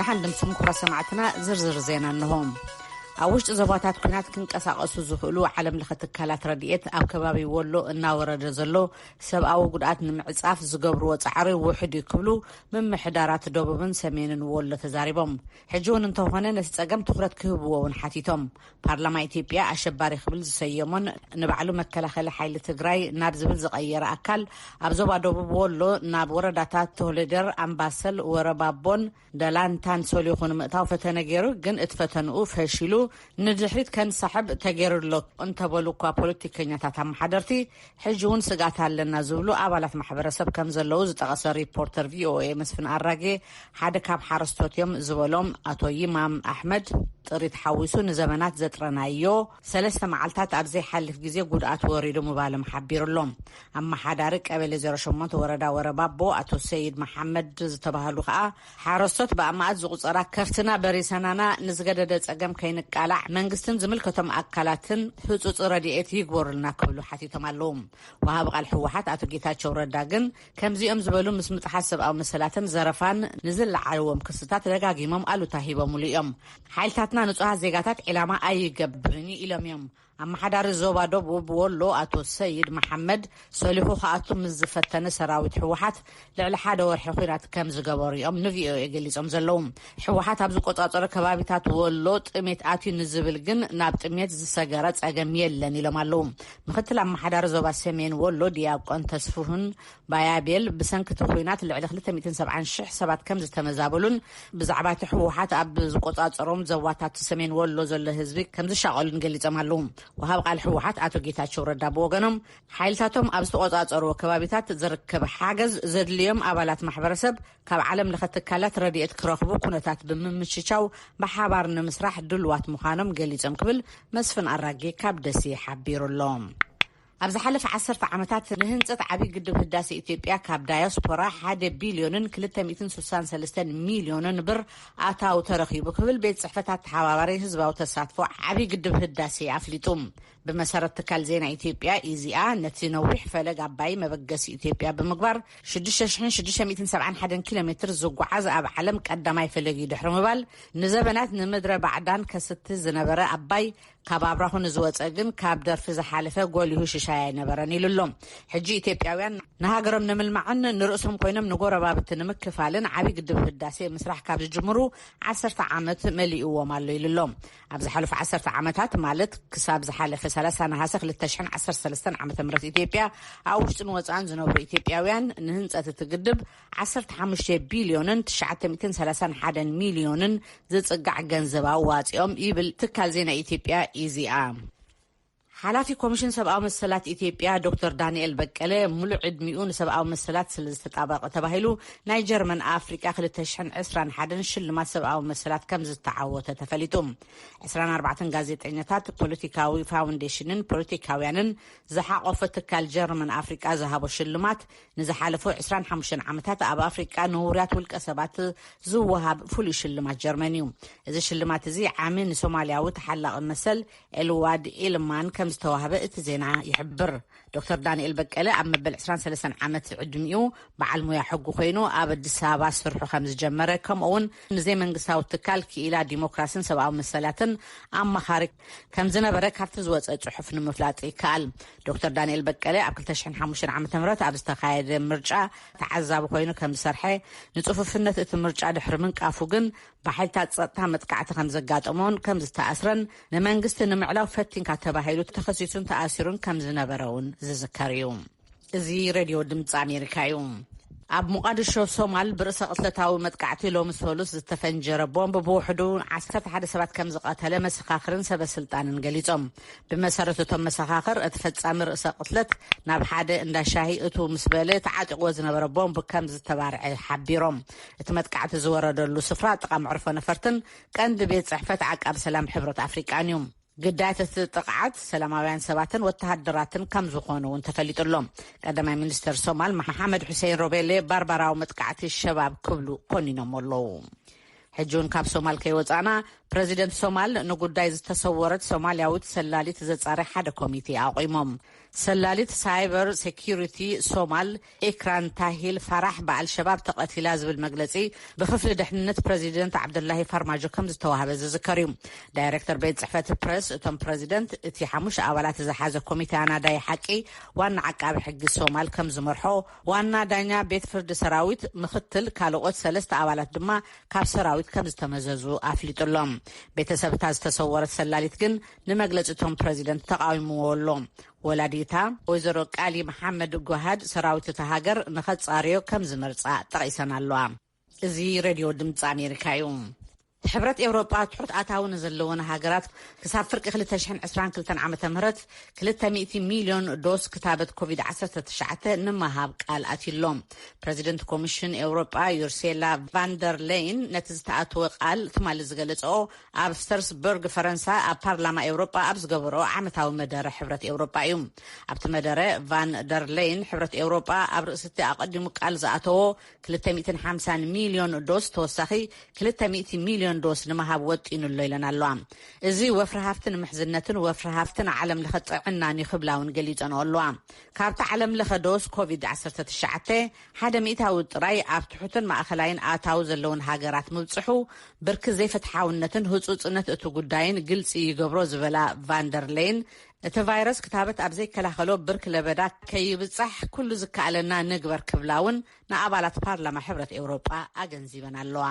ደሓን ድምስም ኩብረ ሰማዕትና ዝርዝር ዜና እንሆም ኣብ ውሽጢ ዞባታት ኩናት ክንቀሳቀሱ ዝኽእሉ ዓለም ለኸ ትካላት ረድኤት ኣብ ከባቢ ወሎ እናወረደ ዘሎ ሰብኣዊ ጉድኣት ንምዕፃፍ ዝገብርዎ ፃዕሪ ውሕድ እዩ ክብሉ ምምሕዳራት ደቡብን ሰሜንን ወሎ ተዛሪቦም ሕጂ ውን እንተኾነ ነቲ ጸገም ትኹረት ክህብዎ ውን ሓቲቶም። ፓርላማ ኢትዮጵያ ኣሸባሪ ክብል ዝሰየሞን ንባዕሉ መከላኸሊ ሓይሊ ትግራይ ናብ ዝብል ዝቐየረ ኣካል ኣብ ዞባ ደቡብ ወሎ ናብ ወረዳታት ቶህሊደር፣ ኣምባሰል፣ ወረባቦን ደላንታን ሰሊኹ ንምእታው ፈተነ ገይሩ ግን እቲ ፈተንኡ ፈሺሉ ንድሕሪት ከንሳሕብ ተገይሩ'ሎ እንተበሉ እኳ ፖለቲከኛታት ኣመሓደርቲ ሕጂ እውን ስግኣት ኣለና ዝብሉ ኣባላት ማሕበረሰብ ከምዘለዉ ዝጠቐሰ ሪፖርተር ቪኦኤ መስፍን ኣራጌ ሓደ ካብ ሓረስቶት እዮም ዝበሎም ኣቶ ይማም ኣሕመድ ጥሪት ሓዊሱ ንዘበናት ዘጥረናዮ ሰለስተ መዓልታት ኣብ ዘይሓልፍ ግዜ ጉድኣት ወሪዱ ምባሎም ሓቢሩ ኣሎ። ኣመሓዳሪ ቀበሌ ዜሮ ሸሞንተ ወረዳ ወረባቦ ኣቶ ሰይድ መሓመድ ዝተባህሉ ከኣ ሓረስቶት ብኣማእት ዝቑፀራ ከፍትና በሪሰናና ንዝገደደ ፀገም ከይንቃላዕ መንግስትን ዝምልከቶም ኣካላትን ህፁፅ ረድኤት ይግበሩልና ክብሉ ሓቲቶም ኣለዉ። ወሃቢ ቃል ህወሓት ኣቶ ጌታቸው ረዳ ግን ከምዚኦም ዝበሉ ምስ ምጥሓስ ሰብኣዊ መሰላትን ዘረፋን ንዝለዓልዎም ክስታት ደጋጊሞም ኣሉታ ሂቦምሉ እዮም። ሓይልታትና ንፁሃት ዜጋታት ዒላማ ኣይገብርን እዩ ኢሎም እዮም። ኣመሓዳሪ ዞባ ደቡብ ወሎ ኣቶ ሰይድ መሓመድ ሰሊኹ ክኣቱ ምስ ዝፈተነ ሰራዊት ህወሓት ልዕሊ ሓደ ወርሒ ኲናት ከም ዝገበሩ እዮም ንቪኦኤ ገሊፆም ዘለዉ። ህወሓት ኣብ ዝቆፃፀሮ ከባቢታት ወሎ ጥሜት ኣትዩ ንዝብል ግን ናብ ጥሜት ዝሰገረ ፀገም የለን ኢሎም ኣለዉ። ምክትል ኣመሓዳሪ ዞባ ሰሜን ወሎ ዲያቆን ተስፍሁን ባያቤል ብሰንኪ እቲ ኹናት ልዕሊ ክልተ ሚእትን ሰብዓን ሽሕ ሰባት ከም ዝተመዛበሉን ብዛዕባ እቲ ህወሓት ኣብ ዝቆፃፀሮም ዘዋታት ሰሜን ወሎ ዘሎ ህዝቢ ከም ዝሻቐሉን ገሊፆም ኣለው። ወሃብ ቃል ህወሓት ኣቶ ጌታቸው ረዳ ብወገኖም ሓይልታቶም ኣብ ዝተቆፃፀርዎ ከባቢታት ዝርከብ ሓገዝ ዘድልዮም ኣባላት ማሕበረሰብ ካብ ዓለም ለኸ ትካላት ረድኤት ክረኽቡ ኩነታት ብምምችቻው ብሓባር ንምስራሕ ድሉዋት ምዃኖም ገሊፆም ክብል መስፍን ኣራጌ ካብ ደሴ ሓቢሩ ኣሎ። ኣብ ዝሓለፈ ዓሰርተ ዓመታት ንህንፀት ዓብዪ ግድብ ህዳሴ ኢትዮጵያ ካብ ዳያስፖራ ሓደ ቢልዮንን ክልተ ሚእትን ስሳን ሰለስተን ሚልዮንን ብር ኣታዊ ተረኺቡ ክብል ቤት ፅሕፈት ኣተሓባባሪ ህዝባዊ ተሳትፎ ዓብዪ ግድብ ህዳሴ ኣፍሊጡ። ብመሰረት ትካል ዜና ኢትዮጵያ ኢዜኣ ነቲ ነዊሕ ፈለግ ኣባይ መበገሲ ኢትዮጵያ ብምግባር ሽዱሽተ ሽሕን ሽዱሽተ ሚእትን ሰብዓን ሓደን ኪሎ ሜትር ዝጓዓዝ ኣብ ዓለም ቀዳማይ ፈለግ እዩ ድሕሪ ምባል ንዘበናት ንምድረ ባዕዳን ከስቲ ዝነበረ ኣባይ ካብ ኣብራኹ ንዝወፀ ግን ካብ ደርፊ ዝሓለፈ ጎሊሁ ሽሻይ ኣይነበረን ኢሉ ኣሎ። ሕጂ ኢትዮጵያውያን ንሃገሮም ንምልማዕን ንርእሶም ኮይኖም ንጎረባብቲ ንምክፋልን ዓብዪ ግድብ ህዳሴ ምስራሕ ካብ ዝጅምሩ ዓሰርተ ዓመት መሊእዎም ኣሎ ኢሉ ኣሎ። ኣብ ዝሓለፉ ዓሰርተ ዓመታት ማለት ክሳብ ዝሓለፈ ሰላሳ ነሃሰ ክልተ ሽሕን ዓሰርተ ሰለስተን ዓመተ ምህረት ኢትዮጵያ ኣብ ውሽጥን ወፃእን ዝነብሩ ኢትዮጵያውያን ንህንፀት እቲ ግድብ ዓሰርተ ሓሙሽተ ቢልዮንን ትሽዓተ ሚእትን ሰላሳን ሓደን ሚልዮንን ዝጽጋዕ ገንዘብ ኣዋጺኦም ይብል ትካል ዜና ኢትዮጵያ ኢዜኣ። ሓላፊ ኮሚሽን ሰብኣዊ መሰላት ኢትዮጵያ ዶክተር ዳንኤል በቀለ ሙሉእ ዕድሚኡ ንሰብኣዊ መሰላት ስለ ዝተጣበቐ ተባሂሉ ናይ ጀርመን ኣፍሪቃ 221 ሽልማት ሰብኣዊ መሰላት ከም ዝተዓወተ ተፈሊጡ 24 ጋዜጠኛታት ፖለቲካዊ ፋውንዴሽንን ፖለቲካውያንን ዝሓቆፈ ትካል ጀርመን ኣፍሪቃ ዝሃቦ ሽልማት ንዝሓለፉ ዕስራን ሓሙሽተን ዓመታት ኣብ ኣፍሪቃ ንውሩያት ውልቀ ሰባት ዝወሃብ ፍሉይ ሽልማት ጀርመን እዩ። እዚ ሽልማት እዚ ዓሚ ንሶማልያዊ ተሓላቒ መሰል ኤልዋድ ኢልማን ከም ዝተዋህበ እቲ ዜና ይሕብር። ዶክተር ዳንኤል በቀለ ኣብ መበል ዕስራን ሰለስተን ዓመት ዕድሚኡ በዓል ሙያ ሕጉ ኮይኑ ኣብ ኣዲስ ኣበባ ስርሑ ከም ዝጀመረ ከምኡ'ውን ንዘይመንግስታዊ ትካል ክኢላ ዲሞክራስን ሰብኣዊ መሰላትን ኣማኻሪ ከም ዝነበረ ካብቲ ዝወፀ ፅሑፍ ንምፍላጥ ይከኣል። ዶክተር ዳንኤል በቀለ ኣብ 2005 ዓ ም ኣብ ዝተኻየደ ምርጫ ተዓዛቢ ኮይኑ ከም ዝሰርሐ ንፅፉፍነት እቲ ምርጫ ድሕሪ ምንቃፉ ግን ብሓይልታት ፀጥታ መጥቃዕቲ ከም ዘጋጠሞን ከም ዝተኣስረን ንመንግስቲ ንምዕላው ፈቲንካ ተባሂሉ ተኸሲሱን ተኣሲሩን ከም ዝነበረ እውን ዝዝከር እዩ። እዚ ሬድዮ ድምፂ ኣሜሪካ እዩ። ኣብ ሞቓድሾ ሶማል ብርእሰ ቅትለታዊ መጥቃዕቲ ሎሚ ሰሉስ ዝተፈንጀረ ቦምብ ብውሕዱ ዓሰርተ ሓደ ሰባት ከም ዝቐተለ መሰኻኽርን ሰበ ስልጣንን ገሊጾም። ብመሰረት እቶም መሰኻኽር እቲ ፈጻሚ ርእሰ ቅትለት ናብ ሓደ እንዳ ሻሂ እትው ምስ በለ ተዓጢቕዎ ዝነበረ ቦምብ ከም ዝተባርዐ ሓቢሮም። እቲ መጥቃዕቲ ዝወረደሉ ስፍራ ጥቓ መዕርፎ ነፈርትን ቀንዲ ቤት ጽሕፈት ዓቃብ ሰላም ሕብረት ኣፍሪቃን እዩ። ግዳያት እቲ ጥቕዓት ሰላማውያን ሰባትን ወተሃደራትን ከምዝኾኑ እውን ተፈሊጡ ኣሎ። ቀዳማይ ሚኒስተር ሶማል መሓመድ ሑሴን ሮቤሌ ባርባራዊ መጥቃዕቲ ሸባብ ክብሉ ኮኒኖሞ ኣለዉ። ሕጂ እውን ካብ ሶማል ከይወጻእና ፕረዚደንት ሶማል ንጉዳይ ዝተሰወረት ሶማልያዊት ሰላሊት ዘጻሪ ሓደ ኮሚቴ ኣቑሞም። ሰላሊት ሳይበር ሴኪሪቲ ሶማል ኢክራን ታሂል ፋራሕ ብኣልሸባብ ተቐቲላ ዝብል መግለጺ ብክፍሊ ድሕንነት ፕረዚደንት ዓብዱላሂ ፋርማጆ ከም ዝተዋህበ ዝዝከር እዩ። ዳይረክተር ቤት ጽሕፈት ፕረስ እቶም ፕረዚደንት፣ እቲ ሓሙሽተ ኣባላት ዝሓዘ ኮሚተ ኣናዳይ ሓቂ፣ ዋና ዓቃቢ ሕጊ ሶማል ከም ዝመርሖ፣ ዋና ዳኛ ቤት ፍርዲ ሰራዊት፣ ምኽትል፣ ካልኦት ሰለስተ ኣባላት ድማ ካብ ሰራዊት ከም ዝተመዘዙ ኣፍሊጡ ኣሎ። ቤተሰብ እታ ዝተሰወረት ሰላሊት ግን ንመግለጺ እቶም ፕረዚደንት ተቓዊምዎ ኣሎ። ወላዲታ ወይዘሮ ቃሊ መሓመድ ጓሃድ ሰራዊት እታ ሃገር ንኸጻርዮ ከም ዝመርጻ ጠቒሰን ኣለዋ። እዚ ሬድዮ ድምጺ ኣሜሪካ እዩ። ሕብረት ኤውሮጳ ትሑት ኣታዊ ንዘለወን ሃገራት ክሳብ ፍርቂ ክልተ ሽሕን ዕስራን ክልተን ዓመተ ምህረት ክልተ ሚእቲ ሚልዮን ዶስ ክታበት ኮቪድ ዓሰርተ ትሽዓተ ንምሃብ ቃል ኣትዩ ኣሎ። ፕረዚደንት ኮሚሽን ኤውሮጳ ዩርሴላ ቫንደር ለይን ነቲ ዝተኣተወ ቃል ትማሊ ዝገለጸኦ ኣብ ስተርስበርግ ፈረንሳ ኣብ ፓርላማ ኤውሮጳ ኣብ ዝገበርኦ ዓመታዊ መደረ ሕብረት ኤውሮጳ እዩ። ኣብቲ መደረ ቫን ደር ለይን ሕብረት ኤውሮጳ ኣብ ርእሲቲ ኣቐዲሙ ቃል ዝኣተዎ ክልተ ሚእትን ሓምሳን ሚልዮን ዶስ ተወሳኺ ክልተ ሚእቲ ሚልዮን ዶስ ንምሃብ ወጢኑ ኣሎ ኢለን ኣለዋ። እዚ ወፍሪ ሃፍትን ምሕዝነትን ወፍሪ ሃፍትን ዓለም ለኸ ጥዕናን እዩ ክብላ እውን ገሊጸንኦ ኣለዋ። ካብቲ ዓለም ለኸ ዶስ ኮቪድ ዓሰርተ ትሽዓተ ሓደ ሚእታዊ ጥራይ ኣብ ትሑትን ማእከላይን ኣታዊ ዘለውን ሃገራት ምብጽሑ፣ ብርኪ ዘይፍትሓውነትን ህጹጽነት እቲ ጉዳይን ግልጺ ይገብሮ ዝበላ ቫን ደር ሌይን፣ እቲ ቫይረስ ክታበት ኣብ ዘይከላኸሎ ብርኪ ለበዳ ከይብጻሕ ኩሉ ዝከኣለና ንግበር ክብላ'ውን ንኣባላት ፓርላማ ሕብረት ኤውሮጳ ኣገንዚበን ኣለዋ።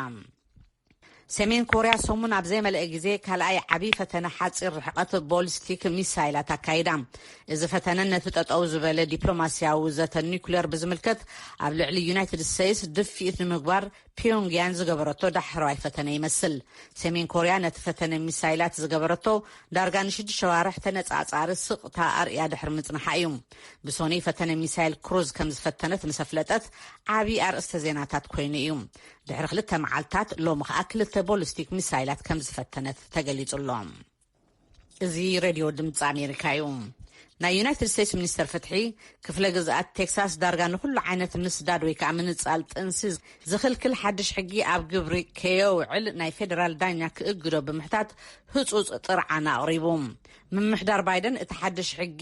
ሰሜን ኮርያ ሰሙን ኣብ ዘይመልአ ግዜ ካልኣይ ዓብዪ ፈተነ ሓፂር ርሕቐት ቦሊስቲክ ሚሳይላት ኣካይዳ። እዚ ፈተነ ነቲ ጠጠው ዝበለ ዲፕሎማሲያዊ ዘተ ኒኩሌር ብዝምልከት ኣብ ልዕሊ ዩናይትድ ስተይስ ድፍኢት ንምግባር ፒዮንግያን ዝገበረቶ ዳሕረዋይ ፈተነ ይመስል። ሰሜን ኮርያ ነቲ ፈተነ ሚሳይላት ዝገበረቶ ዳርጋ ንሽዱሽተ ኣዋርሕ ተነፃፃሪ ስቕታ ኣርእያ ድሕሪ ምፅንሓ እዩ። ብሶኑይ ፈተነ ሚሳይል ክሩዝ ከምዝፈተነት ምስ ኣፍለጠት ዓብዪ ኣርእስተ ዜናታት ኮይኑ እዩ። ድሕሪ ክልተ መዓልታት ሎሚ ከኣ ክልተ ቦሊስቲክ ሚሳይላት ከም ዝፈተነት ተገሊጹ ኣሎ። እዚ ሬድዮ ድምፂ ኣሜሪካ እዩ። ናይ ዩናይትድ ስቴትስ ሚኒስተር ፍትሒ ክፍለ ግዝኣት ቴክሳስ ዳርጋ ንኹሉ ዓይነት ምስዳድ ወይ ከዓ ምንፃል ጥንሲ ዝኽልክል ሓድሽ ሕጊ ኣብ ግብሪ ከየውዕል ናይ ፌዴራል ዳኛ ክእግዶ ብምሕታት ህፁፅ ጥርዓን ኣቕሪቡ። ምምሕዳር ባይደን እቲ ሓድሽ ሕጊ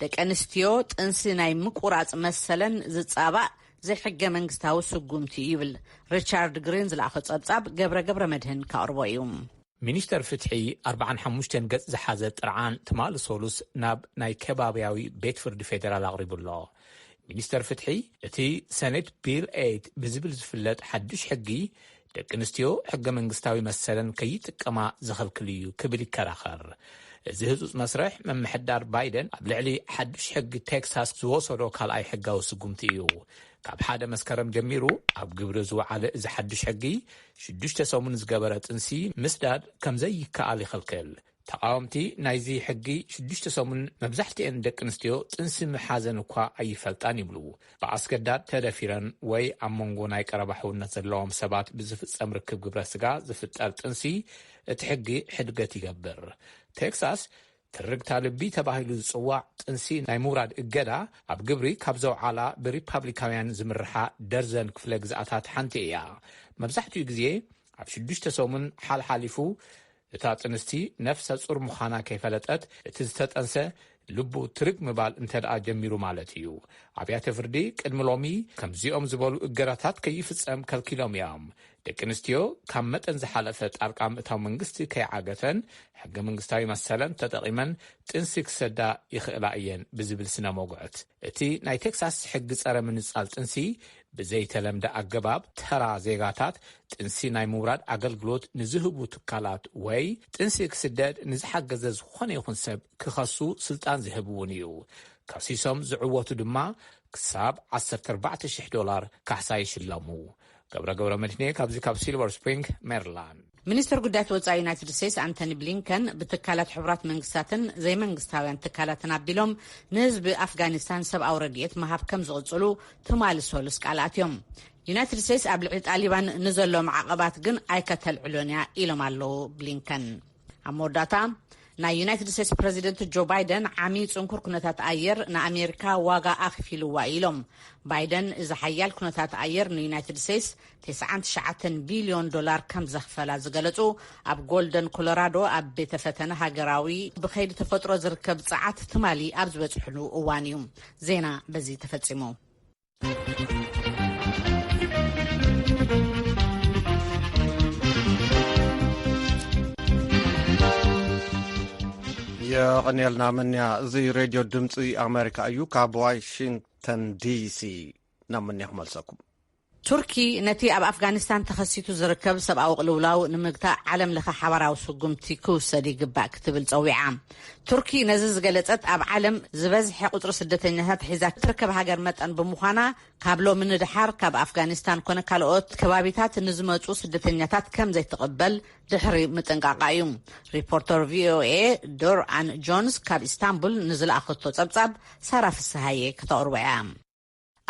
ደቂ ኣንስትዮ ጥንሲ ናይ ምቁራፅ መሰለን ዝፃባእ ዘይሕገ መንግስታዊ ስጉምቲ እዩ ይብል ሪቻርድ ግሪን ዝለኣኾ ጸብጻብ ገብረ ገብረመድህን ከቕርቦ እዩ። ሚኒስተር ፍትሒ ኣርብዓን ሓሙሽተን ገጽ ዝሓዘ ጥርዓን ትማሊ ሰሉስ ናብ ናይ ከባብያዊ ቤት ፍርዲ ፌደራል ኣቕሪቡ ኣሎ። ሚኒስተር ፍትሒ እቲ ሰኔት ቢል ኤይት ብዝብል ዝፍለጥ ሓዱሽ ሕጊ ደቂ ኣንስትዮ ሕገ መንግስታዊ መሰለን ከይጥቀማ ዝኽልክል እዩ ክብል ይከራኸር። እዚ ህጹጽ መስርሕ ምምሕዳር ባይደን ኣብ ልዕሊ ሓድሽ ሕጊ ቴክሳስ ዝወሰዶ ካልኣይ ሕጋዊ ስጉምቲ እዩ። ካብ ሓደ መስከረም ጀሚሩ ኣብ ግብሪ ዝወዓለ እዚ ሓድሽ ሕጊ ሽዱሽተ ሰሙን ዝገበረ ጥንሲ ምስዳድ ከምዘይከኣል ይኽልክል። ተቓወምቲ ናይዚ ሕጊ ሽዱሽተ ሰሙን መብዛሕትኤን ደቂ ኣንስትዮ ጥንሲ ምሓዘን እኳ ኣይፈልጣን ይብሉ። ብኣስገዳድ ተደፊረን ወይ ኣብ መንጎ ናይ ቀረባ ሕውነት ዘለዎም ሰባት ብዝፍጸም ርክብ ግብረ ስጋ ዝፍጠር ጥንሲ እቲ ሕጊ ሕድገት ይገብር። ቴክሳስ ትርግታ ልቢ ተባሂሉ ዝጽዋዕ ጥንሲ ናይ ምውራድ እገዳ ኣብ ግብሪ ካብ ዘውዓላ ብሪፓብሊካውያን ዝምርሓ ደርዘን ክፍለ ግዝኣታት ሓንቲ እያ። መብዛሕትኡ ግዜ ኣብ ሽዱሽተ ሰሙን ሓልሓሊፉ እታ ጥንስቲ ነፍሰ ፁር ምዃና ከይፈለጠት እቲ ዝተጠንሰ ልቡ ትርግ ምባል እንተድኣ ጀሚሩ ማለት እዩ። ኣብያተ ፍርዲ ቅድሚ ሎሚ ከምዚኦም ዝበሉ እገዳታት ከይፍፀም ከልኪሎም እዮም። ደቂ ኣንስትዮ ካብ መጠን ዝሓለፈ ጣልቃ ምእታው መንግስቲ ከይዓገተን ሕገ መንግስታዊ መሰለን ተጠቒመን ጥንሲ ክሰዳ ይኽእላ እየን ብዝብል ስነ ሞግዕት እቲ ናይ ቴክሳስ ሕጊ ጸረ ምንጻል ጥንሲ፣ ብዘይተለምደ ኣገባብ ተራ ዜጋታት ጥንሲ ናይ ምውራድ ኣገልግሎት ንዝህቡ ትካላት ወይ ጥንሲ ክስደድ ንዝሓገዘ ዝኾነ ይኹን ሰብ ክኸሱ ስልጣን ዝህብ እውን እዩ። ከሲሶም ዝዕወቱ ድማ ክሳብ ዓሰርተ ኣርባዕተ ሽሕ ዶላር ካሕሳ ይሽለሙ። ገብረ ገብረመድህኔ ካብዚ ካብ ሲልቨር ስፕሪንግ ሜሪላንድ። ሚኒስትር ጉዳያት ወፃኢ ዩናይትድ ስቴትስ ኣንቶኒ ብሊንከን ብትካላት ሕቡራት መንግስታትን ዘይመንግስታውያን ትካላትን ኣቢሎም ንህዝቢ ኣፍጋኒስታን ሰብኣዊ ረድኤት ምሃብ ከም ዝቕፅሉ ትማሊ ሰሉስ ቃል ኣትዮም። ዩናይትድ ስቴትስ ኣብ ልዕሊ ጣሊባን ንዘሎ ማዕቐባት ግን ኣይከተልዕሎን እያ ኢሎም ኣለዉ ብሊንከን። ኣብ መወዳእታ ናይ ዩናይትድ ስቴትስ ፕረዚደንት ጆ ባይደን ዓሚ ጽንኩር ኩነታት ኣየር ንኣሜሪካ ዋጋ ኣኽፊሉዋ እዩ ኢሎም። ባይደን እዚ ሓያል ኩነታት ኣየር ንዩናይትድ ስቴትስ ተስዓን ትሽዓተን ቢልዮን ዶላር ከም ዘኽፈላ ዝገለጹ ኣብ ጎልደን ኮሎራዶ ኣብ ቤተ ፈተነ ሃገራዊ ብከይዲ ተፈጥሮ ዝርከብ ጸዓት ትማሊ ኣብ ዝበጽሕሉ እዋን እዩ። ዜና በዚ ተፈጺሙ። የቐንየልና ምንያ እዚ ሬድዮ ድምፂ ኣሜሪካ እዩ ካብ ዋሽንግተን ዲሲ ናብ ምንያ ክመልሰኩም ቱርኪ ነቲ ኣብ ኣፍጋኒስታን ተኸሲቱ ዝርከብ ሰብኣዊ ቅልውላው ንምግታእ ዓለም ለኸ ሓባራዊ ስጉምቲ ክውሰድ ይግባእ ክትብል ፀዊዓ ቱርኪ ነዚ ዝገለጸት ኣብ ዓለም ዝበዝሐ ቁጽሪ ስደተኛታት ሒዛ ትርከብ ሃገር መጠን ብምዃና ካብ ሎሚ ንደሓር ካብ ኣፍጋኒስታን ኮነ ካልኦት ከባቢታት ንዝመጹ ስደተኛታት ከም ዘይትቕበል ድሕሪ ምጥንቃቓ እዩ። ሪፖርተር ቪኦኤ ዶር ኣን ጆንስ ካብ ኢስታንቡል ንዝለኣኸቶ ጸብጻብ ሳራ ፍስሃየ ከተቕርቦ እያ።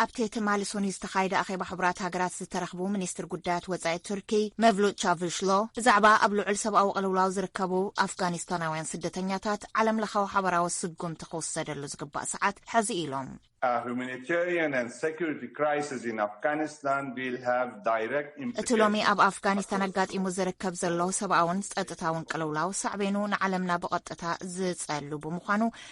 ኣብቲ ትማሊ ሶኑይ ዝተኻየደ ኣኼባ ሕቡራት ሃገራት ዝተረኽቡ ሚኒስትር ጉዳያት ወጻኢ ቱርኪ መቭሉት ቻቭሽሎ ብዛዕባ ኣብ ልዑል ሰብኣዊ ቅልውላው ዝርከቡ ኣፍጋኒስታናውያን ስደተኛታት ዓለም ለኻዊ ሓበራዊ ስጉምቲ ክውሰደሉ ዝግባእ ሰዓት ሕዚ እዩ ኢሎም። እቲ ሎሚ ኣብ ኣፍጋኒስታን ኣጋጢሙ ዝርከብ ዘሎ ሰብኣውን ጸጥታውን ቅልውላው ሳዕቤኑ ንዓለምና ብቐጥታ ዝጸሉ ብምዃኑ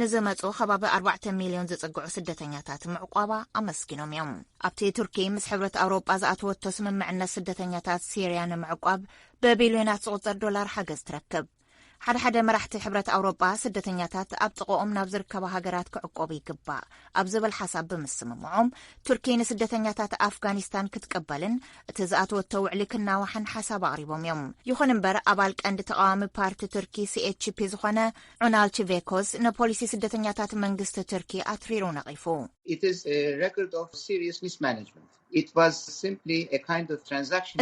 ንዝመጹ ከባቢ ኣርባዕተ ሚልዮን ዝጽግዑ ስደተኛታት ምዕቋባ ኣመስጊኖም እዮም። ኣብቲ ቱርኪ ምስ ሕብረት ኣውሮጳ ዝኣተወቶ ስምምዕነት ስደተኛታት ሲርያ ንምዕቋብ ብቢልዮናት ዝቝጸር ዶላር ሓገዝ ትረክብ። ሓደ ሓደ መራሕቲ ሕብረት ኣውሮጳ ስደተኛታት ኣብ ጥቕኦም ናብ ዝርከባ ሃገራት ክዕቆቡ ይግባእ ኣብ ዝብል ሓሳብ ብምስምምዖም ቱርኪ ንስደተኛታት ኣፍጋኒስታን ክትቅበልን እቲ ዝኣተወቶ ውዕሊ ክናዋሕን ሓሳብ ኣቕሪቦም እዮም። ይኹን እምበር ኣባል ቀንዲ ተቓዋሚ ፓርቲ ቱርኪ ሲኤችፒ ዝኾነ ዑናል ቺቬኮዝ ንፖሊሲ ስደተኛታት መንግስቲ ቱርኪ ኣትሪሩ ነቒፉ።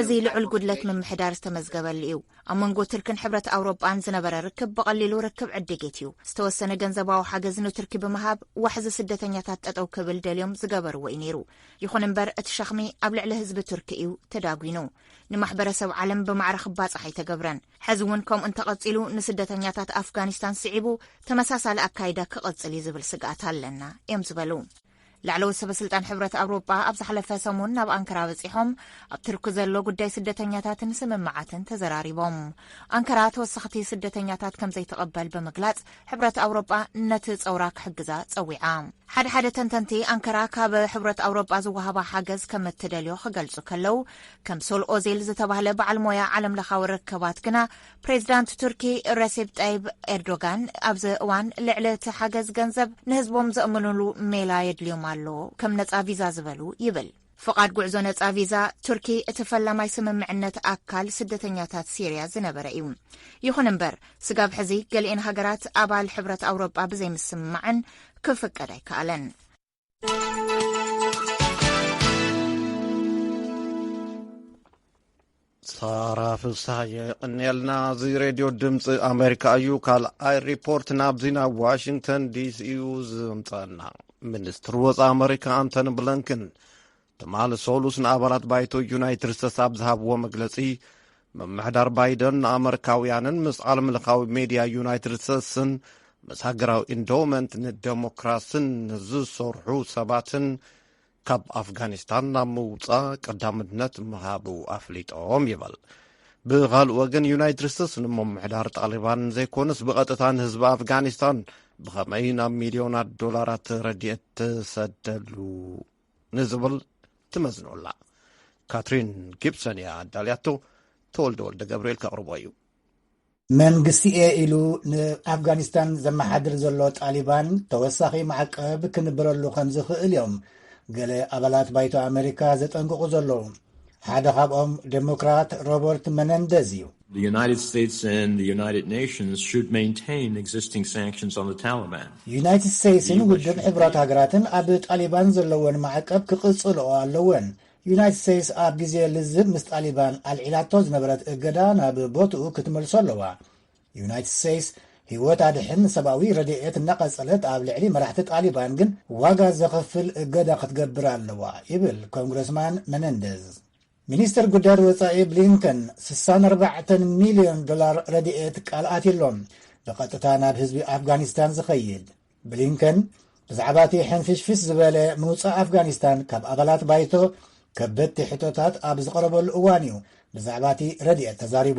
እዚ ልዑል ጉድለት ምምሕዳር ዝተመዝገበሉ እዩ። ኣብ መንጎ ቱርክን ሕብረት ኣውሮጳን ዝነበረ ርክብ ብቐሊሉ ርክብ ዕድጊት እዩ። ዝተወሰነ ገንዘባዊ ሓገዝ ንቱርኪ ብምሃብ ዋሕዚ ስደተኛታት ጠጠው ክብል ደልዮም ዝገበርዎ እዩ ነይሩ። ይኹን እምበር እቲ ሸኽሚ ኣብ ልዕሊ ህዝቢ ቱርኪ እዩ ተዳጒኑ። ንማሕበረሰብ ዓለም ብማዕረ ክባጻሕ ኣይተገብረን። ሕዚ እውን ከምኡ እንተቐፂሉ ንስደተኛታት ኣፍጋኒስታን ስዒቡ ተመሳሳሊ ኣካይዳ ክቕፅል እዩ ዝብል ስግኣት ኣለና እዮም ዝበሉ። ላዕለዎት ሰበስልጣን ሕብረት ኣውሮጳ ኣብ ዝሓለፈ ሰሙን ናብ ኣንከራ በፂሖም ኣብ ትርኪ ዘሎ ጉዳይ ስደተኛታትን ስምምዓትን ተዘራሪቦም። ኣንከራ ተወሰኽቲ ስደተኛታት ከም ዘይትቕበል ብምግላፅ ሕብረት ኣውሮጳ ነቲ ፀውራ ክሕግዛ ፀዊዓ። ሓደ ሓደ ተንተንቲ ኣንከራ ካብ ሕብረት ኣውሮጳ ዝወሃባ ሓገዝ ከም እትደልዮ ክገልጹ ከለው ከም ሶል ኦዜል ዝተባህለ በዓል ሞያ ዓለም ለኻዊ ርከባት ግና ፕሬዚዳንት ቱርኪ ረሴብ ጠይብ ኤርዶጋን ኣብዚ እዋን ልዕሊ እቲ ሓገዝ ገንዘብ ንህዝቦም ዘእምንሉ ሜላ የድልዮም ኣሎ ከም ነፃ ቪዛ ዝበሉ ይብል ፍቓድ ጉዕዞ ነፃ ቪዛ ቱርኪ እቲ ፈላማይ ስምምዕነት ኣካል ስደተኛታት ሲርያ ዝነበረ እዩ ይኹን እምበር ስጋብ ሕዚ ገሊኤን ሃገራት ኣባል ሕብረት ኣውሮጳ ብዘይምስምማዐን ክፍቀድ ኣይከኣለን ሳራ ፍስሃየ የቐንየልና እዚ ሬድዮ ድምፂ ኣሜሪካ እዩ ካልኣይ ሪፖርት ናብዚ ናብ ዋሽንግተን ዲሲ እዩ ዝምፀና ሚኒስትር ወፃኢ ኣሜሪካ ኣንቶኒ ብለንክን ትማል ሰሉስ ንኣባላት ባይቶ ዩናይትድ ስተትስ ኣብ ዝሃብዎ መግለጺ ምምሕዳር ባይደን ንኣመሪካውያንን ምስ ዓለም ምልኻዊ ሜድያ ዩናይትድ ስተትስን ምስ ሃገራዊ ኢንዶመንት ንደሞክራስን ንዝሰርሑ ሰባትን ካብ ኣፍጋኒስታን ናብ ምውፃእ ቀዳምነት ምሃቡ ኣፍሊጦም ይበል ብኻልእ ወገን ዩናይትድ ስቴትስ ንምምሕዳር ጣሊባን ዘይኮነስ ብቐጥታ ንህዝቢ ኣፍጋኒስታን ብኸመይ ናብ ሚልዮናት ዶላራት ረድኤት ትሰደሉ ንዝብል ትመዝኖ ኣላ ካትሪን ጊብሰን እያ ኣዳልያቶ ተወልደ ወልደ ገብርኤል ከቕርቦ እዩ መንግስቲ እየ ኢሉ ንኣፍጋኒስታን ዘመሓድር ዘሎ ጣሊባን ተወሳኺ ማዕቀብ ክንብረሉ ከም ዝኽእል እዮም ገለ ኣባላት ባይቶ ኣመሪካ ዘጠንቅቑ ዘለዉ ሓደ ካብኦም ደሞክራት ሮበርት መነንደዝ እዩ። ዩናይትድ ስቴትስን ውድብ ሕቡራት ሃገራትን ኣብ ጣሊባን ዘለወን ማዕቀብ ክቕጽልኦ ኣለወን። ዩናይትድ ስቴትስ ኣብ ግዜ ልዝብ ምስ ጣሊባን ኣልዒላቶ ዝነበረት እገዳ ናብ ቦትኡ ክትመልሶ ኣለዋ። ዩናይትድ ስቴትስ ህይወት ኣድሕን ሰብኣዊ ረድኤት እናቐጸለት ኣብ ልዕሊ መራሕቲ ጣሊባን ግን ዋጋ ዘኽፍል እገዳ ክትገብር ኣለዋ ይብል ኮንግረስማን መነንደዝ። ሚኒስትር ጉዳያት ወጻኢ ብሊንከን 64 ሚልዮን ዶላር ረድኤት ቃል ኣትዩሎም ብቐጥታ ናብ ህዝቢ ኣፍጋኒስታን ዝኸይድ ብሊንከን ብዛዕባ እቲ ሕንፍሽፍሽ ዝበለ ምውጻእ ኣፍጋኒስታን ካብ ኣባላት ባይቶ ከበድቲ ሕቶታት ኣብ ዝቐረበሉ እዋን እዩ ብዛዕባ እቲ ረድኤት ተዛሪቡ።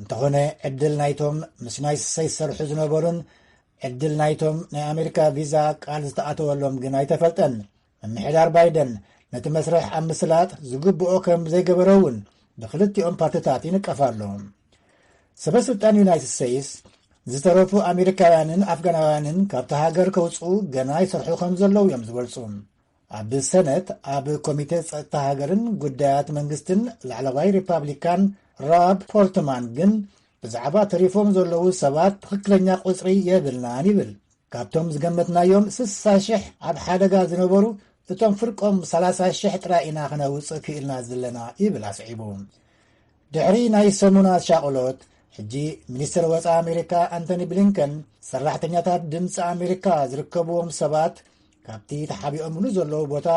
እንተኾነ ዕድል ናይቶም ምስ ናይ ስሰይ ዝሰርሑ ዝነበሩን ዕድል ናይቶም ናይ ኣሜሪካ ቪዛ ቃል ዝተኣተወሎም ግን ኣይተፈልጠን ምምሕዳር ባይደን ነቲ መስርሕ ኣብ ምስላጥ ዝግብኦ ከም ዘይገበረ እውን ብክልቲኦም ፓርትታት ይንቀፍ ኣሎ ሰበ ስልጣን ዩናይትድ ስተይስ ዝተረፉ ኣሜሪካውያንን ኣፍጋናውያንን ካብቲ ሃገር ከውፅኡ ገና ይሰርሑ ከም ዘለዉ እዮም ዝገልፁ ኣብ ሰነት ኣብ ኮሚተ ጸጥታ ሃገርን ጉዳያት መንግስትን ላዕለዋይ ሪፓብሊካን ራብ ፖርትማን ግን ብዛዕባ ተሪፎም ዘለዉ ሰባት ትኽክለኛ ቁጽሪ የብልናን ይብል። ካብቶም ዝገመትናዮም ስሳ ሽሕ ኣብ ሓደጋ ዝነበሩ እቶም ፍርቆም ሰላሳ ሽሕ ጥራይ ኢና ክነውጽእ ክኢልና ዘለና ይብል ኣስዒቡ። ድሕሪ ናይ ሰሙናት ሻቕሎት ሕጂ ሚኒስትር ወፃኢ ኣሜሪካ ኣንቶኒ ብሊንከን ሰራሕተኛታት ድምፂ ኣሜሪካ ዝርከብዎም ሰባት ካብቲ ተሓቢኦምሉ ዘለዉ ቦታ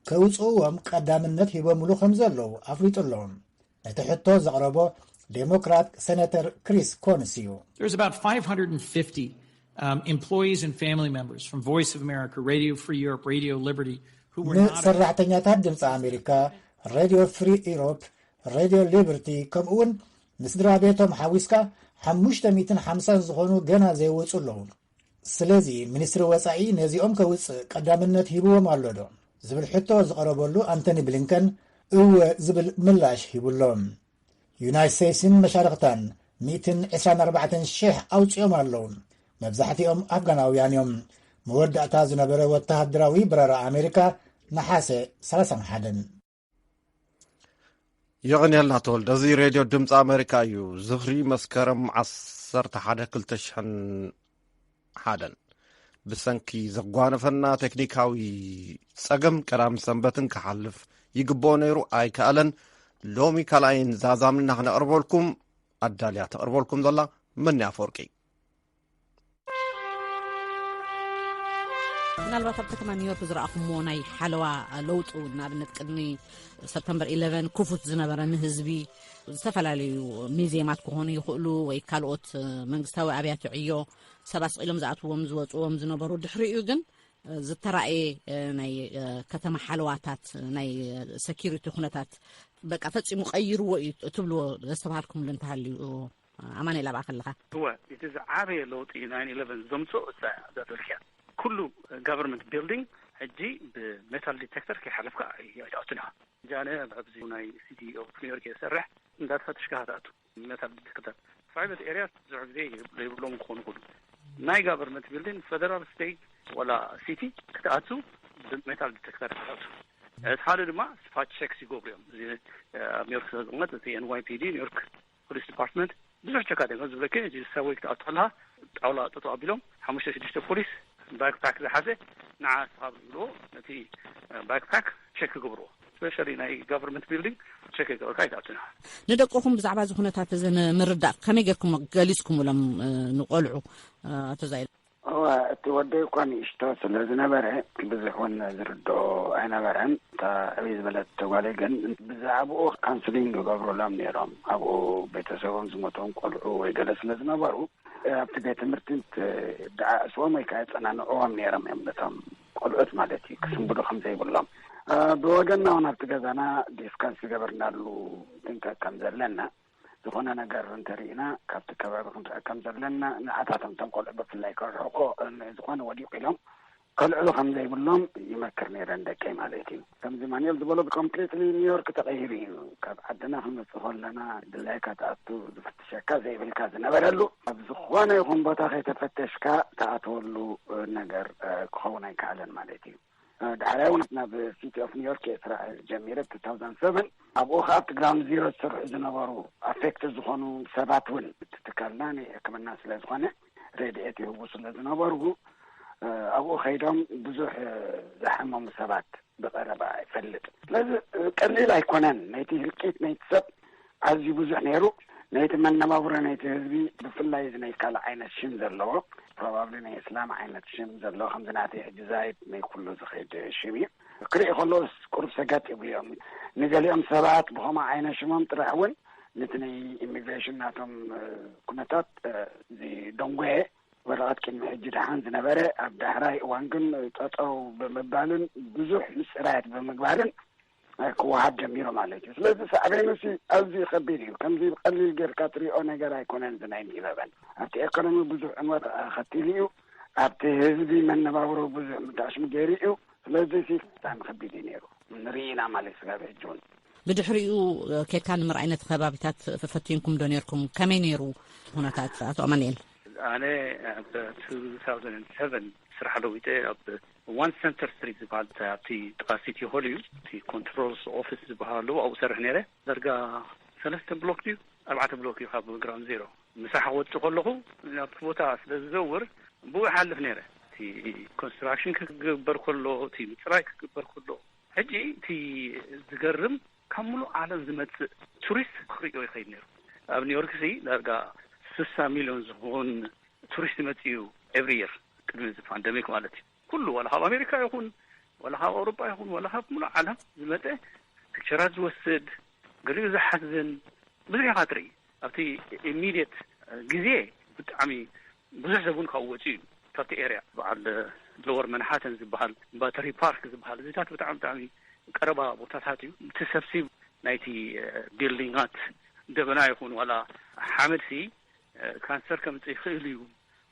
ከውፅእዎም ቀዳምነት ሂቦምሉ ከም ዘለዉ ኣፍሊጡ ኣሎ ነቲ ሕቶ ዘቕረቦ ዴሞክራት ሰነተር ክሪስ ኮንስ እዩ ንሰራሕተኛታት ድምፂ ኣሜሪካ ሬድዮ ፍሪ ኢሮፕ ሬድዮ ሊበርቲ ከምኡ እውን ንስድራ ቤቶም ሓዊስካ ሓሙሽተ ሚትን ሓምሳን ዝኾኑ ገና ዘይወፁ ኣለዉ ስለዚ ሚኒስትሪ ወፃኢ ነዚኦም ከውፅእ ቀዳምነት ሂብዎም ኣሎ ዶ? ዝብል ሕቶ ዝቐረበሉ ኣንተኒ ብሊንከን እወ ዝብል ምላሽ ሂቡ ኣሎ። ዩናይት ሰይስን መሻርኽታን ሚእትን ዕስራን ኣርባዕተን ሽሕ ኣውፂኦም ኣለው። መብዛሕቲኦም ኣፍጋናውያን እዮም። መወዳእታ ዝነበረ ወተሃደራዊ በረራ ኣሜሪካ ነሓሰ ሰላሳን ሓደን። የቕንየልና ተወልደ እዚ ሬድዮ ድምፂ ኣሜሪካ እዩ ዝኽሪ መስከረም 11 ብሰንኪ ዘጓነፈና ቴክኒካዊ ጸገም ቀዳም ሰንበትን ክሓልፍ ይግብኦ ነይሩ ኣይከኣለን ሎሚ ካልኣይን ዛዛምና ክነቕርበልኩም ኣዳልያ ተቕርበልኩም ዘላ መን ኣፈወርቂ ምናልባት ኣብ ከተማ ኒውዮርክ ዝረኣኹሞ ናይ ሓለዋ ለውጡ ንኣብነት ቅድሚ ሰፕተምበር 11 ክፉት ዝነበረ ንህዝቢ ዝተፈላለዩ ሚዜማት ክኾኑ ይኽእሉ ወይ ካልኦት መንግስታዊ ኣብያተ ዕዮ ሰብ ኣስቂሎም ዝኣትዎም ዝወፅዎም ዝነበሩ ድሕሪኡ ግን ዝተራእየ ናይ ከተማ ሓለዋታት ናይ ሰኪሪቲ ኩነታት በቃ ፈፂሙ ቀይርዎ እዩ ትብልዎ ዘስተባሃልኩምሉ እንተሃልዩ ኣማኒኤል ኣብኣ ከለኻ። እወ እቲ ዝዓበየ ለውጢ ናይን ኢለቨን ዘምፅኦ እሳ እያ እዛ ደርክያ ኩሉ ጋቨርንመንት ቢልዲንግ ሕጂ ብሜታል ዲቴክተር ከይሓለፍካ ኣይትኣቱን ኢኻ ጃነ ኣብዚ ናይ ሲቲ ኦፍ ኒውዮርክ እየ ዝሰርሕ እንዳተፈተሽካ ኢኻ ትኣቱ ሜታል ዲቴክተር ፕራይቨት ኤርያስ ብዙሕ ግዜ ዘይብሎም ክኾኑ ይኽእሉ ናይ ጋቨርንመንት ቢልዲንግ ፌደራል ስቴት ወላ ሲቲ ክትኣቱ ብሜታል ዲቴክተር ኢኻ ትኣቱ እቲ ሓደ ድማ ስፓት ቼክስ ይገብሩ እዮም እዚ ኣብ ኒውዮርክ ስለዝቕመጥ እቲ ኤንዋይፒዲ ኒውዮርክ ፖሊስ ዲፓርትመንት ብዙሕ ቸካት እዮም ዝብለኪ ሕጂ ሳብወይ ክትኣቱ ከለኻ ጣውላ ጠጠው ኣቢሎም ሓሙሽተ ሽዱሽተ ፖሊስ ባክ ፓክ ዝሓዘ ንዓ እስኻ ዝብልዎ ነቲ ባክ ፓክ ቸክ ይገብርዎ ስፔሻሊ ናይ ጋቨርመንት ቢልዲንግ ቸክ ከይገበርካ ኣይትኣቱን ኢኻ። ንደቅኹም ብዛዕባ እዚ ኩነታት እዚ ንምርዳእ ከመይ ጌርኩም ገሊጽኩምሎም ንቆልዑ ኣቶ ዛይድ? እወ እቲ ወደይ እኳ ንእሽቶ ስለ ዝነበረ ብዙሕ እውን ዝርድኦ ኣይነበረን። እታ ዕብይ ዝበለት ጓለይ ግን ብዛዕብኡ ካውንስሊንግ ይገብሩሎም ነይሮም። ኣብኡ ቤተሰቦም ዝሞቶም ቆልዑ ወይ ገለ ስለ ዝነበሩ ኣብቲ ቤት ትምህርቲ ደዓዕስዎም ወይ ከዓ የፀናንዕዎም ነይሮም እዮም ነቶም ቆልዑት ማለት እዩ ክስንብዱ ከም ዘይብሎም ብወገና እውን ኣብቲ ገዛና ዲስካስ ዝገበርናሉ ድንቀ ከም ዘለና ዝኾነ ነገር እንተሪእና ካብቲ ከባቢ ክንርሕቅ ከም ዘለና ንዓታቶም እቶም ቆልዑ ብፍላይ ክርሕቁ ንዝኾነ ወዲቁ ኢሎም ከልዕሉ ከም ዘይብሎም ይመክር ነይረ ንደቀይ ማለት እዩ ከምዚ ማንኤል ዝበሎ ኮምፕሊትሊ ኒውዮርክ ተቐይሩ እዩ ካብ ዓድና ክንመፅእ ከለና ድላይካ ትኣቱ ዝፍትሸካ ዘይብልካ ዝነበረሉ ኣብ ዝኾነ ይኹን ቦታ ከይተፈተሽካ ትኣትወሉ ነገር ክኸውን ኣይከኣለን ማለት እዩ ዳሕራይ እውን ናብ ሲቲ ኦፍ ኒውዮርክ እየ ስራሕ ጀሚረ ቱ ታውዛንድ ሰቨን ኣብኡ ከዓ ኣብቲ ግራውንድ ዚሮ ዝስርሑ ዝነበሩ ኣፌክትድ ዝኾኑ ሰባት እውን እቲ ትካልና ናይ ሕክምና ስለ ዝኾነ ሬድኤት ይህቡ ስለ ዝነበሩ ኣብኡ ከይዶም ብዙሕ ዝሓመሙ ሰባት ብቐረባ ይፈልጥ ስለዚ ቀሊል ኣይኮነን ነይቲ ህልቂት ነይቲ ሰብ ኣዝዩ ብዙሕ ነይሩ ናይቲ መነባብሮ ናይቲ ህዝቢ ብፍላይ እዚ ናይ ካልእ ዓይነት ሽም ዘለዎ ፕሮባብሊ ናይ እስላም ዓይነት ሽም ዘለዎ ከምዚ ናተይ ሕጂ ዛይድ ናይ ኩሉ ዝኸይድ ሽም እዩ ክርኢ ከሎስ ቁሩብ ሰገጥ ይብልዮም ንገሊኦም ሰባት ብኸምኡ ዓይነት ሽሞም ጥራሕ እውን ነቲ ናይ ኢሚግሬሽን ናቶም ኩነታት ዝደንጎየ ወረቐት ቅድሚ ሕጂ ደሓን ዝነበረ ኣብ ዳሕራይ እዋን ግን ጠጠው ብምባልን ብዙሕ ምፅራያት ብምግባርን ክወሃብ ጀሚሩ ማለት እዩ ስለዚ ሳዕቤኑ ሲ ኣዝዩ ከቢድ እዩ ከምዚ ብቀሊል ጌርካ ትሪኦ ነገር ኣይኮነን ናይ ንበበን ኣብቲ ኤኮኖሚ ብዙሕ ዕንወት ኣኸቲሉ እዩ ኣብቲ ህዝቢ መነባብሮ ብዙሕ ምዳሽሚ ገይሩ እዩ ስለዚ ሲ ብጣዕሚ ከቢድ እዩ ነይሩ ንርኢ ኢና ማለት እዩ ስጋብ ሕጂ እውን ብድሕሪኡ ኬድካ ንምርኣይ ነቲ ከባቢታት ፈፈቲንኩም ዶ ነርኩም ከመይ ነይሩ ኩነታት ኣቶ ኣማኒኤል ኣነ ኣብ ቱ ታውዘንድ ሰቨን ስራሕ ለዊጠ ኣብ ዋን ሰንተር ስትሪት ዝበሃል እቲ ኣብቲ ጥቓ ሲቲ ሆል እዩ እቲ ኮንትሮልስ ኦፊስ ዝበሃል ኣለዎ ኣብኡ እሰርሕ ነይረ ዳርጋ ሰለስተ ብሎክ ድዩ ኣርባዕተ ብሎክ እዩ ካብ ግራውንድ ዜሮ ምሳሕ ክወጽእ ከለኹ ኣብቲ ቦታ ስለ ዝዘውር ብኡ ይሓልፍ ነይረ እቲ ኮንስትራክሽን ክግበር ከሎ እቲ ምጽራይ ክግበር ከሎ ሕጂ እቲ ዝገርም ካብ ምሉእ ዓለም ዝመጽእ ቱሪስት ክርእዮ ይኸይድ ነይሩ። ኣብ ኒውዮርክሲ ዳርጋ ስሳ ሚልዮን ዝኸውን ቱሪስት ይመጽእ እዩ ኤቭሪ ይር ቅድሚ እዚ ፓንደሚክ ማለት እዩ። ኩሉ ዋላ ካብ ኣሜሪካ ይኹን ዋላ ካብ ኣውሮጳ ይኹን ዋላ ካብ ምሉእ ዓለም ዝመጸ ፒክቸራት ዝወስድ ገሊኡ ዝሓዝን ብዙሕ ኢኻ ትርኢ ኣብቲ ኢሚድየት ግዜ ብጣዕሚ ብዙሕ ሰብ ውን ካብኡ ወጺኡ እዩ ካብቲ ኤርያ። በዓል ሎወር መንሃተን ዝበሃል ባተሪ ፓርክ ዝበሃል እዚታት ብጣዕሚ ብጣዕሚ ቀረባ ቦታታት እዩ እቲ ሰብሲብ ናይቲ ቢልዲንጋት ደበና ይኹን ዋላ ሓመድ ሲ ካንሰር ከምጽእ ይኽእል እዩ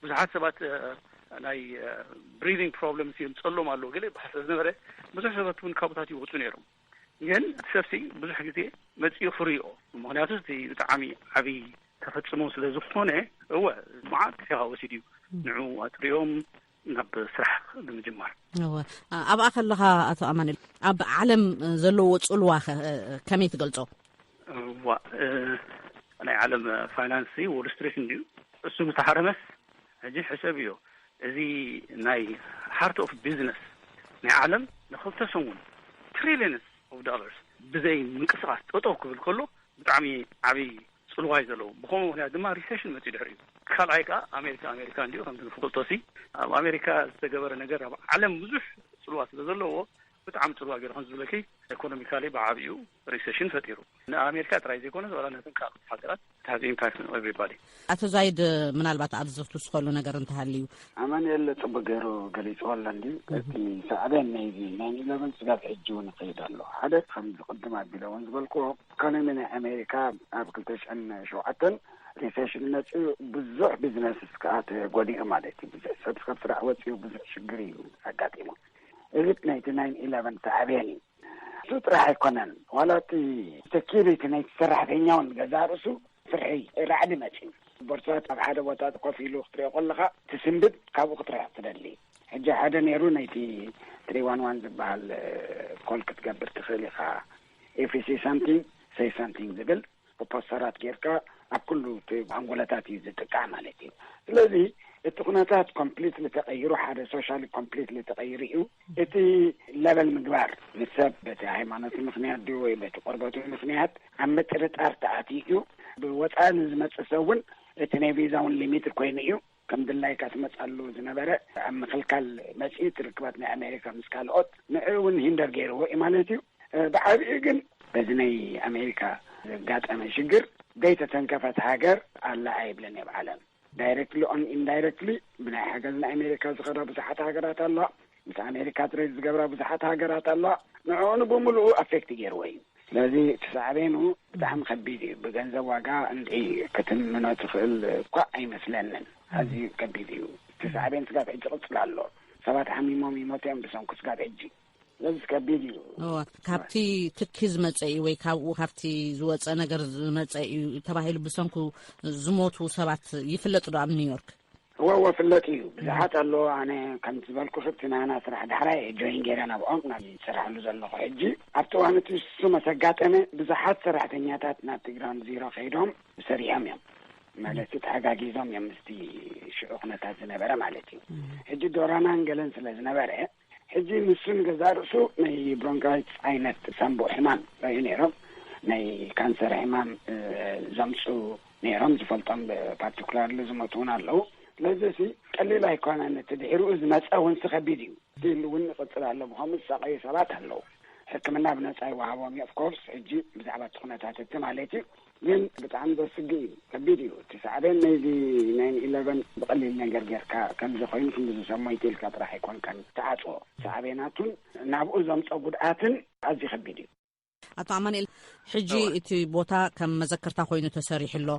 ብዙሓት ሰባት ናይ ብሪዲንግ ፕሮብለምስ የምጸሎም ኣሎ ገለ ይበሃል ስለዝነበረ ብዙሕ ሰባት ውን ካብኡታት ይወጹ ነይሮም። ግን እቲ ሰብሲ ብዙሕ ግዜ መጺኡ ክርእዮ ምክንያቱ እቲ ብጣዕሚ ዓብዪ ተፈጽሞ ስለ ዝኾነ እወ መዓት ግዜ ከ ወሲዱ እዩ ንዑ ኣጥርዮም ናብ ስራሕ ንምጅማር እወ ኣብኣ ከለኻ ኣቶ ኣማንል ኣብ ዓለም ዘለዎ ፅልዋ ከመይ ትገልፆ? እዋ ናይ ዓለም ፋይናንስ ዎል ስትሪት እንድዩ እሱ ምተሃረመስ ሕጂ ሕሰብዮ እዚ ናይ ሃርት ኦፍ ቢዝነስ ናይ ዓለም ንክልተ ሰሙን ትሪሊየንስ ኦፍ ዶላርስ ብዘይ ምንቅስቃስ ጠጠው ክብል ከሎ ብጣዕሚ ዓብይ ጽልዋ እዩ ዘለዎ ብከምኡ ምክንያት ድማ ሪሰሽን መጽዩ ድሕሪኡ ካልኣይ ከኣ ኣሜሪካ ኣሜሪካ እንድዩ ከምቲ ንፍልጦሲ ኣብ ኣሜሪካ ዝተገበረ ነገር ኣብ ዓለም ብዙሕ ጽልዋ ስለ ዘለዎ ብጣዕሚ ጽልዋ ገይሩ ከም ዝብለኪ ኤኮኖሚካሊ ብዓቢኡ ሪሰሽን ፈጢሩ ንኣሜሪካ ጥራይ ዘይኮነስ ዋላ ነተን ካልኦት ሃገራት it has impact on everybody። ኣቶ ዛይድ ምናልባት ኣብዚ ክትውስኸሉ ነገር እንተሃልዩ? ኣማኒኤል ጽቡቅ ገይሩ ገሊጽዎ ኣሎ እንድዩ እቲ ሳዕቤን ናይዚ ናይን ኢለቨን ስጋብ ሕጂ ውን ይኸይድ ኣሎ ሓደ ከምዚ ቅድም ኣቢለ ውን ዝበልክዎ ኢኮኖሚ ናይ ኣሜሪካ ኣብ ክልተ ሽሕን ሸውዓተን ሪሴሽን መጺኡ ብዙሕ ቢዝነስስ ከኣ ተጎዲኡ ማለት እዩ ብዙሕ ሰብ ካብ ስራሕ ወጺኡ ብዙሕ ሽግር እዩ ኣጋጢሙ እዚ ናይቲ ናይን ኢለቨን ሳዕቤን እዩ እሱ ጥራሕ ኣይኮነን ዋላ እቲ ሰኪሪቲ ናይቲ ሰራሕተኛ ውን ገዛእ ርእሱ ፍርሒ ራዕዲ መጺኡ ቦርሳታት ኣብ ሓደ ቦታ ኮፍ ኢሉ ክትሪኦ ከለኻ ትስንብድ ካብኡ ክትርሕቅ ትደሊ ሕጂ ሓደ ነይሩ ነይቲ ትሪ ዋን ዋን ዝበሃል ኮል ክትገብር ትኽእል ኢኻ ኤፍሲ ሳምቲንግ ሰይ ሳምቲንግ ዝብል ብፖስተራት ጌርካ ኣብ ኩሉ እቲ ሃንጎለታት እዩ ዝጥቃዕ ማለት እዩ ስለዚ እቲ ኩነታት ኮምፕሊትሊ ተቀይሩ ሓደ ሶሻሊ ኮምፕሊትሊ ተቀይሩ እዩ እቲ ለበል ምግባር ንሰብ በቲ ሃይማኖት ምክንያት ድዩ ወይ በቲ ቆርበቱ ምክንያት ኣብ ምጥርጣር ተኣትዩ እዩ ብወፃኢ ንዝመፅእ ሰብ እውን እቲ ናይ ቪዛ እውን ሊሚትድ ኮይኑ እዩ ከም ድላይካ ትመጽኣሉ ዝነበረ ኣብ ምኽልካል መጺኢት ርክባት ናይ ኣሜሪካ ምስ ካልኦት ንዕኡ እውን ሂንደር ገይርዎ እዩ ማለት እዩ ብዓብኡ ግን በዚ ናይ ኣሜሪካ ዘጋጠመ ሽግር ዘይተተንከፈት ሃገር ኣላ ኣይብለን እየ ብዓለም ዳይረክትሊ ኦን ኢንዳይረክትሊ ብናይ ሓገዝ ንኣሜሪካ ዝኸዳ ብዙሓት ሃገራት ኣለዋ ምስ ኣሜሪካ ትሬድ ዝገብራ ብዙሓት ሃገራት ኣለዋ ንዕኡ ንብምሉኡ ኣፌክት ገይርዎ እዩ ስለዚ እቲ ሳዕቤኑ ብጣዕሚ ከቢድ እዩ ብገንዘብ ዋጋ እንድዒ ክትምኖ ትኽእል እኳ ኣይመስለንን ኣዝዩ ከቢድ እዩ እቲ ሳዕቤን ስጋብ ሕጂ ይቕጽል ኣሎ ሰባት ሓሚሞም ይሞቱ እዮም ብሰንኩ ስጋብ ሕጂ ስለዚ ከቢድ እዩ ካብቲ ትኪ ዝመጸ እዩ ወይ ካብኡ ካብቲ ዝወጸ ነገር ዝመጸ እዩ ተባሂሉ ብሰንኩ ዝሞቱ ሰባት ይፍለጥ ዶ ኣብ ኒውዮርክ እወ እወ ፍለጥ እዩ ብዙሓት ኣለዉ ኣነ ከምቲ ዝበልኩኺ እቲ ናህና ስራሕ ዳሕራይ እየ ጆይን ገይረ ናብኦም ናብ ዝሰርሐሉ ዘለኹ ሕጂ ኣብቲ እዋን እቲ ንሱ መስ ኣጋጠመ ብዙሓት ሰራሕተኛታት ናብቲ ግራውንድ ዚሮ ከይዶም ሰሪሖም እዮም ማለት ተሓጋጊዞም እዮም ምስቲ ሽዑ ኩነታት ዝነበረ ማለት እዩ ሕጂ ዶራናን ገለን ስለ ዝነበረ ሕጂ ንሱ ንገዛእ ርእሱ ናይ ብሮንካይትስ ዓይነት ሳንቡእ ሕማም ረኣዩ ነይሮም፣ ናይ ካንሰር ሕማም ዘምጽኡ ነይሮም ዝፈልጦም ብፓርቲኩላርሊ ዝሞቱ እውን ኣለዉ። ስለዚሲ ቀሊል ኣይኮነን፣ እቲ ድሒርኡ ዝመጸ እውንሲ ከቢድ እዩ፣ ስቲል እውን ይቕጽል ኣሎ፣ ብኸምኡ ዝሳቐዩ ሰባት ኣለዉ፣ ሕክምና ብነጻ ይወሃቦም እዩ፣ ኦፍኮርስ ሕጂ ብዛዕባ እቲ ኩነታት እቲ ማለት እዩ። ግን ብጣዕሚ ዘስግእ እዩ ከቢድ እዩ እቲ ሳዕቤን ነይዚ ናይን ኢለቨን ብቀሊል ነገር ገርካ ከምዚ ኮይኑ ክንድዚ ሰብ ሞይቱ ኢልካ ጥራሕ ኣይኮንካን ትዓጽዎ ሳዕቤናቱን ናብኡ ዘምጾ ጉድኣትን ኣዝዩ ከቢድ እዩ። ኣቶ ኣማኒኤል ሕጂ እቲ ቦታ ከም መዘከርታ ኮይኑ ተሰሪሑ ኣሎ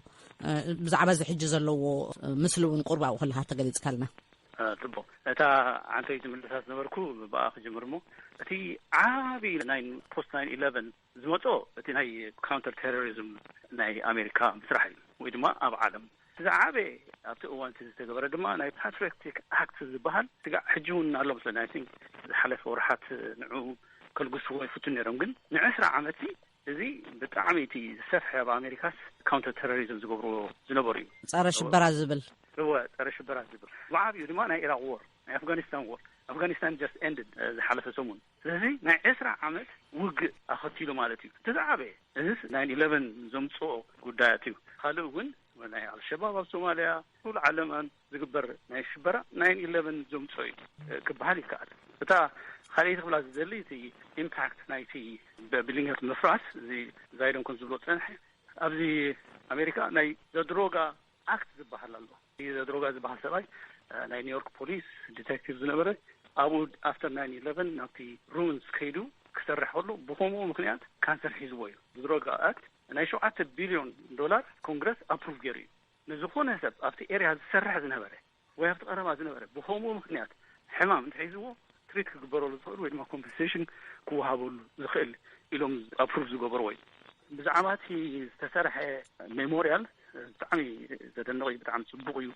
ብዛዕባ እዚ ሕጂ ዘለዎ ምስሊ እውን ቁሩብ ኣብኡ ከለካ ተገሊጽካልና። ጽቡቅ እታ ዓንተይቲ ምልልሳት ዝነበርኩ ብኣ ክጅምር እሞ እቲ ዓቢ ናይን ፖስት ናይን ኢለቨን ዝመጾ እቲ ናይ ካውንተር ቴሮሪዝም ናይ ኣሜሪካ ምስራሕ እዩ ወይ ድማ ኣብ ዓለም እቲ ዝዓበየ ኣብቲ እዋን እቲ ዝተገበረ ድማ ናይ ፓትሪዮቲክ ኣክት ዝበሃል ስጋዕ ሕጂ እውን ኣሎ መስለኒ ኣይ ቲንክ ዝሓለፈ ወርሓት ንዑ ከልግስዎ ይፍቱ ነይሮም ግን ንዕስራ ዓመት ሲ እዚ ብጣዕሚ እቲ ዝሰፍሐ ኣብ ኣሜሪካስ ካውንተር ቴሮሪዝም ዝገብርዎ ዝነበሩ እዩ ጸረ ሽበራ ዝብል እወ ጸረ ሽበራ ዝብል ብዓብኡ ድማ ናይ ኢራቅ ዎር ናይ ኣፍጋኒስታን ዎር ኣፍጋኒስታን ጀስት ኤንድድ ዝሓለፈ ሰሙን ስለዚ ናይ ዕስራ ዓመት ውግእ ኣኸቲሉ ማለት እዩ እቲ ዝዓበየ እዝስ ናይ ኢለቨን ዘምጽኦ ጉዳያት እዩ ካልእ እውን ናይ ኣልሸባብ ኣብ ሶማልያ ኩሉ ዓለም ዝግበር ናይ ሽበራ ናይ ኢለቨን ዘምጽኦ እዩ ክበሃል ይከኣል እታ ካልኣይቲ ክብላ ዝደሊ እቲ ኢምፓክት ናይቲ ብሊንገት ምፍራስ እዚ ዛይደንኮን ዝብሎ ፀንሐ ኣብዚ ኣሜሪካ ናይ ዘድሮጋ ኣክት ዝበሃል ኣሎ ዘድሮጋ ዝበሃል ሰብኣይ ናይ ኒውዮርክ ፖሊስ ዲተክቲቭ ዝነበረ ኣብኡ ኣፍተር ናይን ኢለቨን ናብቲ ሩምንስ ከይዱ ክሰርሕ ከሎ ብከምኡ ምክንያት ካንሰር ሒዝዎ እዩ ዝድሮጋ ኣክት ናይ ሸውዓተ ቢልዮን ዶላር ኮንግረስ ኣፕሩቭ ገይሩ እዩ ንዝኾነ ሰብ ኣብቲ ኤርያ ዝሰርሕ ዝነበረ ወይ ኣብቲ ቀረባ ዝነበረ ብኸምኡ ምኽንያት ሕማም እንተሒዝዎ ትሪት ክግበረሉ ዝኽእል ወይ ድማ ኮምፐንሴሽን ክወሃበሉ ዝኽእል ኢሎም ኣፕሩቭ ዝገበርዎ እዩ። ብዛዕባ እቲ ዝተሰርሐ ሜሞርያል ብጣዕሚ ዘደንቕ እዩ፣ ብጣዕሚ ፅቡቕ እዩ፣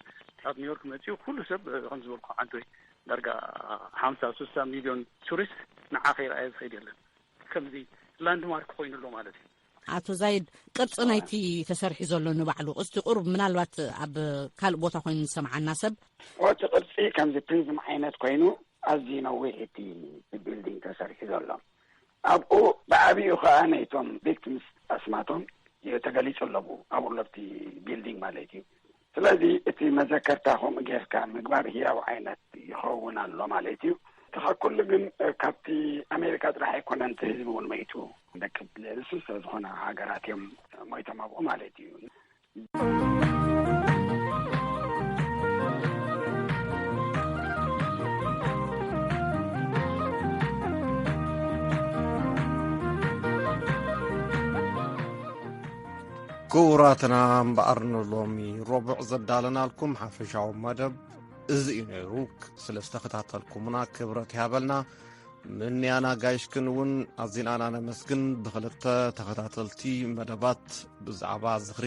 ካብ ኒውዮርክ መፂኡ ኩሉ ሰብ ከም ዝበልኩ ዓዶይ ዳርጋ ሓምሳ ስሳ ሚልዮን ቱሪስት ንዓ ከይረኣየ ዝኸይድ የለን፣ ከምዚ ላንድማርክ ኮይኑ ኣሎ ማለት እዩ። ኣቶ ዛይድ ቅርፂ ናይቲ ተሰሪሑ ዘሎ ንባዕሉ ቅስቲ ቁሩብ ምናልባት ኣብ ካልእ ቦታ ኮይኑ ዝሰምዓና ሰብ እቲ ቅርፂ ከምዚ ፕሪዝም ዓይነት ኮይኑ ኣዝዩ ነዊሕ እቲ ቢልዲንግ ተሰሪሑ ዘሎ ኣብኡ ብዓብኡ ከዓ ናይቶም ቪክቲምስ ኣስማቶም ተገሊፁ ኣለዉ ኣብኡ ለብቲ ቢልዲንግ ማለት እዩ ስለዚ እቲ መዘከርታ ከምኡ ጌርካ ምግባር ህያው ዓይነት ይኸውን ኣሎ ማለት እዩ። ተኻ ኩሉ ግን ካብቲ ኣሜሪካ ጥራሕ ኣይኮነን እቲ ህዝቢ እውን መይቱ ደቂ ንስሰ ዝኾነ ሃገራት እዮም ሞይቶም ኣብኡ ማለት እዩ። ክቡራትና እምበኣር ንሎሚ ረቡዕ ዘዳለናልኩም ሓፈሻዊ መደብ እዚ እዩ ነይሩ ስለ ዝተኸታተልኩምና ክብረት ይሃበልና ምንያና ጋይሽክን እውን ኣዚናና ነመስግን ብክልተ ተኸታተልቲ መደባት ብዛዕባ ዝኽሪ